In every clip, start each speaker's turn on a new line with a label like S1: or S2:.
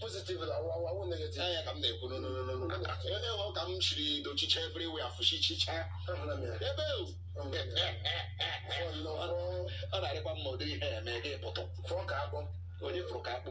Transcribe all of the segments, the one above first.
S1: positive na ọwụ negative ya ka m na-ekwu onye hụ ka m chiri dochicha everywhere afụchichicha ebe ọ na-arịkwa mma ụdị ihe eme gị pụtụ fụrụ ka akpụ onye fụrụ ka akpụ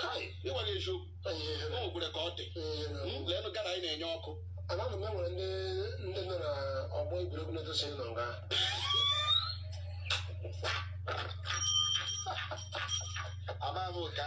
S1: kai ịgwa gị eziokwu o nwekwere ka ọ dị hmm, leenụ Ghana anyị na-enye ọkụ ana m enwere ndị ndị nọ na ọgbọ egwuregwu na-edosi nọ nga
S2: amaghị m ka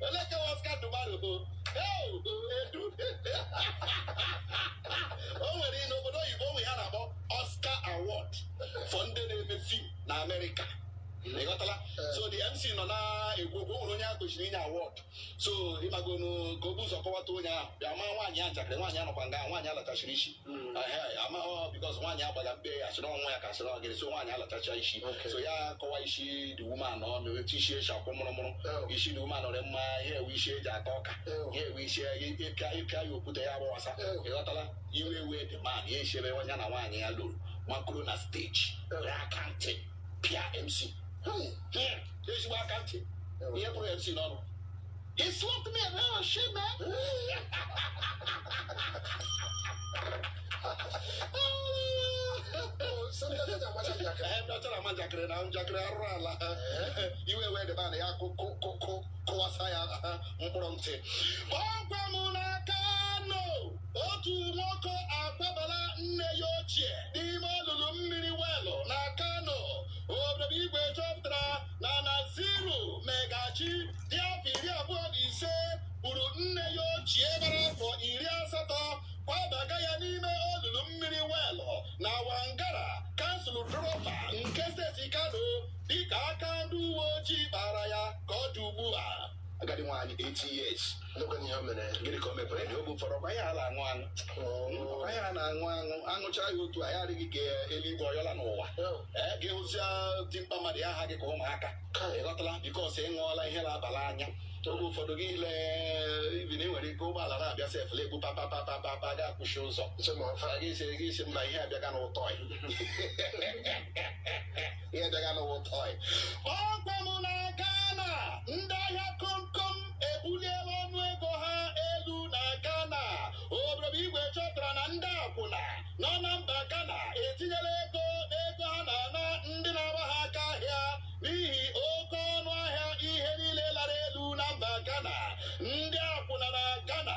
S2: Eleke Oscar Dubaru bụ "Hey, bụ edu o nwere ihe n'obodo oyibo o nwe ihe a na-akpọ Oscar Award for ndị na-eme film na Amerịka ị ghọtala so the MC nọ na-ekwu okwu o nwere onye a kwesịrị inye award so ịmagonu ka o bu ụzọ kọwata onye ahụ bịa maa nwaanyị a njakịrị nwaanyị a nọkwa nga nwaanyị a lachachiri isi amaghị bikos nwaanyị agbaga mbe ya sịrị ọnwa ya ka sịrị ọgịrị so nwaanyị alachacha isi so ya kọwa isi the woman ọnụ etu isi eji akwọ mụrụmụrụ isi the woman ọrị mma ihe a wụ isi e ji ata ọka ihe a wụ isi ị pịa ị pịa ya okwute ya gbawasa ị ghọtala iwe ewee the man ya esi ebe ya na nwaanyị ya nọrọ makoro na stage ya aka ntị pịa mc ezigbo aka ntị ihe pụrụ mc n'ọnụ He slapped me and oh shit, man. Dọtara nwatakịrị na njakịrị arụrụ ala iwe wee the man ya kụkụkụ kụwasa ya mkpụrụ ntị ọgwa m na Kano otu nwoke akwabala nne ya ochie n'ime olulu mmiri welụ na Kano obodo igwe chọpụtara na Naziru Magaji dị afọ iri abụọ na ise gburu nne ya ochie gbara afọ iri asatọ kwabaga ya n'ime olulu mmiri welụ na Wangara kansụl Tofa nke steeti Kano dịka aka ndị uwe ojii kpara ya ka ọ dị ugbu a agadi nwaanyị 80 years ndekwana ihe o mere gịnị ka o mekwere na oge ụfọdụ ọkwa ihe a na-aṅụ aṅụ ọkwa ihe a na-aṅụ aṅụ aṅụcha ya otu a ya adịghị ka eluigwe ọyọla n'ụwa ee gị hụzia dimkpa mmadụ ya aha gị ka ụmụaka ị ghọtala bikos ị ṅụọla ihe na-aba n'anya oge ụfọdụ gị ile ibi na i nwere ike ụgbọala na-abịa sef na-egbu papa papa papa gị akwụchie ụzọ gị sị gị sị mba ihe abịaga wụ toy ihe dịga n'ụwa tọị ọkwa m na Ghana ndị ahịa komkom ebuliela ọnụ ego ha elu na Ghana obodo bụ igwe chọpụtara na ndị akwụna nọ na mba Ghana etinyela ego n'ego ha na-ana ndị na-agba ha aka ahịa n'ihi oke ọnụ ahịa ihe niile lara elu na mba Ghana ndị akwụna na Ghana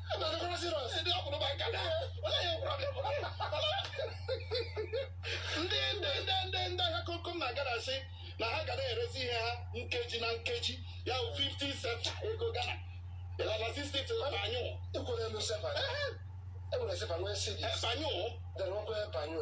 S2: ndị ndị ndị ndị ndị ahịa komkom na Ghana asị na ha ga na-erezi ihe ha nkeji na nkeji ya bụ 50 sefa ego Ghana ịlala 60 to anyụ ekwere elu sefa
S1: ekwere sefa nwee sidi anyụ dere
S2: ọkụ ebe
S1: anyụ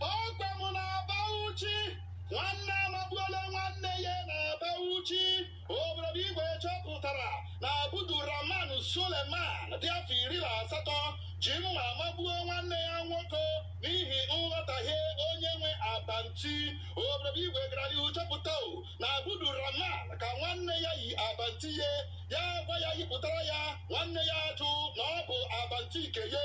S2: ọkwa m na Bauchi nwanne amagbuola nwanne ya na Bauchi obodo bụ igwe chọpụtara na Abdulrahman Suleman dị afọ iri na asatọ ji mma magbuo nwanne ya nwoke n'ihi nghọtahie onye nwe abanti obodo bụ igwe gara n'ihu chọpụta o na Abdulrahman ka nwanne ya yi abanti ya ya gwa ya yipụtara ya nwanne ya ajụ na ọ bụ abanti nke ya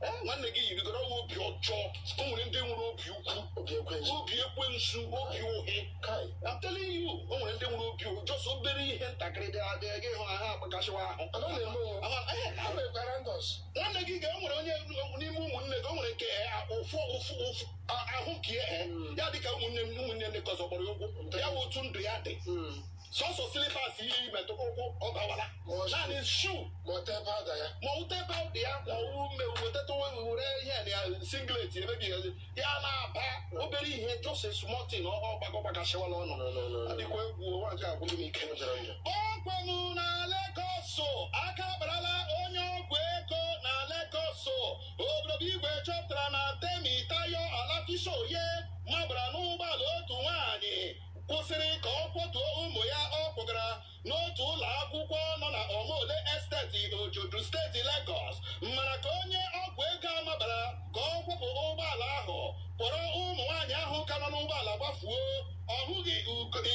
S2: Eh, nwanne gị yirigoro ọwa obi ọjọọ o nwere ndị nwere obi ukwu obi ekwensu obi ekwensu obi ụhị kai I'm telling you o nwere ndị nwere obi ụhị just obere ihe ntakịrị dị adị gị hụ na ha agbakasịwa ahụ ọ naghị eme o Ama- eh, ha mekwara ndọs nwanne gị ga-enwere onye n'ime ụmụnne gị o nwere nke eh, ụfụ ụfụ ụfụ a- ahụ nke ya eh, ya dịka ụmụnne ụmụnne ndị nke ọzọ kpọrọ ya ugwu ya bụ otu ndụ ya dị sọsọ slippers ihe i metụ ụkwụ ọ gbawara naanị shoe ma ọ tee pawda ya ma ọ tee pawda ya ma ọ ume wetata were ihe na ya singlet emebi ya ya na-aba obere ihe just small thing ọ gbago gbagachịwala ọnụ a dịkwa egwu ụwa nke agwụghị m ike ọkwanụ na Legọs aka akparala onye ọgwụ ego na Legọs obodo bụ igwe chọpụtara na Temitayo Olafisoye mabara n'ụgbọala otu nwaanyị kwụsịrị ka ọ kwọtuo ụmụ ya ọ kpọgara n'otu ụlọ akwụkwọ nọ na Omole Estate Ojodu steeti Legọs mana ka onye ọgwụ ego a mabara ka ọ kwọpụ ụgbọala ahụ kpọrọ ụmụ nwaanyị ahụ ka nọ n'ụgbọala gbafuo ọ hụghị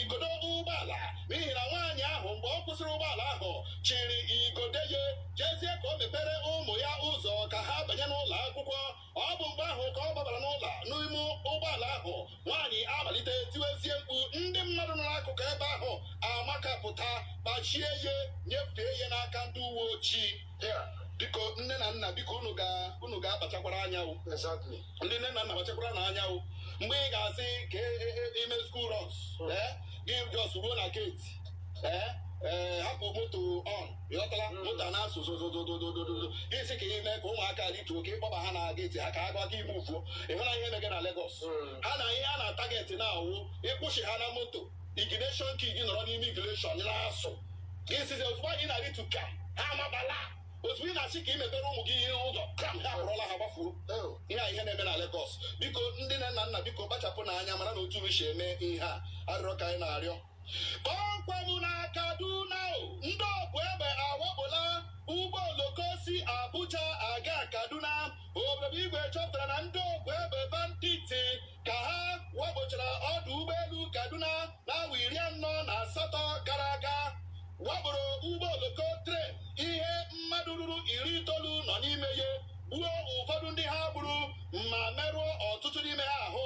S2: igodo ụgbọala n'ihi na nwaanyị ahụ mgbe ọ kwụsịrị ụgbọala ahụ chịrị igodo ya jezie ka o mepere ụmụ ya ụzọ ka ha banye n'ụlọ akwụkwọ ọ bụ mgbe ahụ ka ọ gbabara n'ụlọ n'ime ụgbọala ahụ nwaanyị amalite tiwezie mkpu ndị mmadụ nọ n'akụkụ ebe ahụ amakapụta kpachie ya nyefee ya n'aka ndị uwe ojii biko nne na nna biko unu ga-akpachakwara anya ndị nne na nna kpachakwaranụ anya mgbe ị ga-asị ka e, e, e, i mee school runs gị just ruo na gate hapụ moto on ị ghọtala moto na-asụ zozozozozozozo gị sị ka i mee ka ụmụaka rituo ka ị kpọba ha na geti ha ka ha gwa gị ime ufuo ị hụla ihe mege na Lagos ha na ihe ha na-atageti na-awụ ịkwụsị ha na moto ignition key gị nọrọ n'ime ignition na-asụ gị sizi ozugbo anyị na-aritu ka ha amabala ozugbo ị na-asị ka ị mepere ụmụ gị ihe ụzọ kram ha akpọrọla ha gbafuo ihe a ihe na-eme na Lagos biko ndị nne na nna biko kpachapụnụ anya maranụ otu unu si eme ihe a arịrịọ ka anyị na-arịọ Kpọmkwem na Kaduna, ndị ọkpụ egbe awakpola ụgbọ oloko si Abuja aga Kaduna. Obodo Igwe chọpụtara na ndị ọkpụ egbe banditi ka ha wakpochara ọdụ ụgbọelu Kaduna n'awa iri anọ na asatọ gara aga wakporo ụgbọ oloko train ihe mmadụ ruru iri itoolu nọ n'ime ya gbuo ụfọdụ ndị ha gburu ma merụọ ọtụtụ n'ime ha ahụ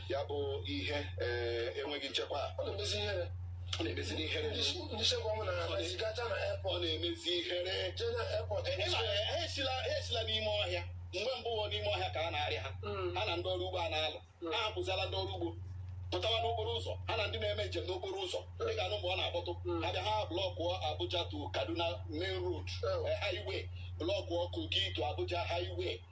S2: ya bụ ihe enweghị nchekwa ọ na-emezi ihere ọ na-emezi ihere ndị nchekwa ọnwụ na na-emezi gacha na airport na-emezi ihere je na airport ha esila n'ime ọhịa mgbe mbụ ọ n'ime ọhịa ka a na-arịa ha hmm. ha na ndị ọrụ ugbo a na-alụ hmm. ha ahapụziala ndị ọrụ ugbo pụtawa n'okporo ụzọ ha na ndị na-eme njem n'okporo ụzọ hmm. ị ga-anụ mgbe ọ na-akpọtụ ha bịa ha blọkụọ Abuja to Kaduna main road highway blọkụọ Kogi to Abuja highway